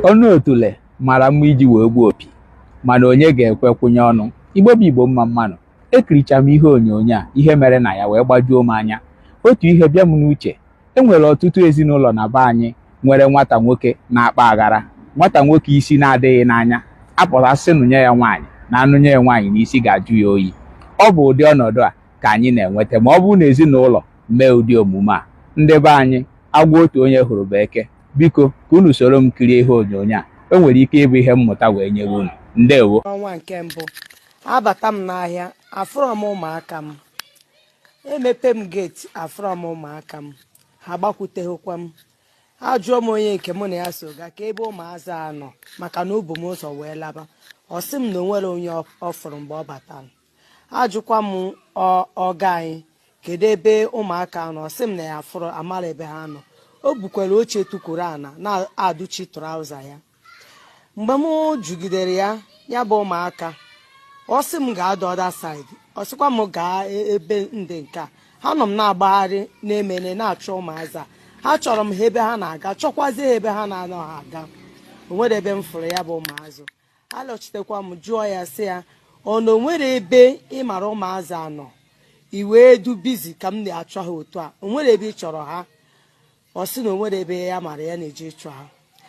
ọnụ otule mara mma iji wee gbuo opi mana onye ga-ekwe kwụnye ọnụ igbo bụ igbo mma mma nụ ekiricha m ihe onyonyo a ihe mere na ya wee gbajuo m anya otu ihe bịa m n'uche e nwere ọtụtụ ezinụlọ na be anyị nwere nwata nwoke na-akpa aghara nwata nwoke isi na-adịghị n'anya a pụta a sị nụnye ya nwaanyị na a nụnye ya nwaanyị na isi ga-ajụ ya oyi ọ bụ ụdị ọnọdụ a ka anyị na-enweta ma ọ bụrụ na ezinụlọ mee ụdị omume a ndị be anyị agwọ otu onye hụrụ bụ eke biko ka unu soro m kirie ihe onyonyo a o nwere ike ịbụ ihe mmụta wee nyere unu ndewo ọnwa nke mbụ abata m n'ahịa afụrọ m ụmụaka m emepe m geeti afụrọ m ụmụaka m ha gbakwuteghịkwa m ajụọ m onye nke mụ na ya so ga ka ebe ụmụazị a nọ maka na o bu m ụzọ wee laba ọ sị m na o nwerọ onye ọ fụrụ mgbe ọ batara ajụkwa m oga anyị kedu ebe ụmụaka nọ ọ sị m na ya afụrọ amarọ ebe ha nọ o bukwara oche tukwuru ana na-adụchi trouser ya mgbe m jụgidere ya ya bụ ụmụaka ọ sị m gaa the other side ọ sịkwa m gaa e, ebe ndị nke a ha nọ m na-agbagharị na-emene na-achọ ụmụazị a achọrọ m ha ebe ha na-aga chọkwazie ha ebe ha na-anaha aga o nwerọ ebe m fụrụ ya bụ ụmụazị alọchitekwa m jụọ ya sị ya ọ na o nwere ebe ị mara ụmụazị a nọ i wee dị busy ka m na-achọ ha otu a o nwere ebe ị chọrọ ha ọ sị na o nwerọ ebe ya mara ya na-eje ịchọ ha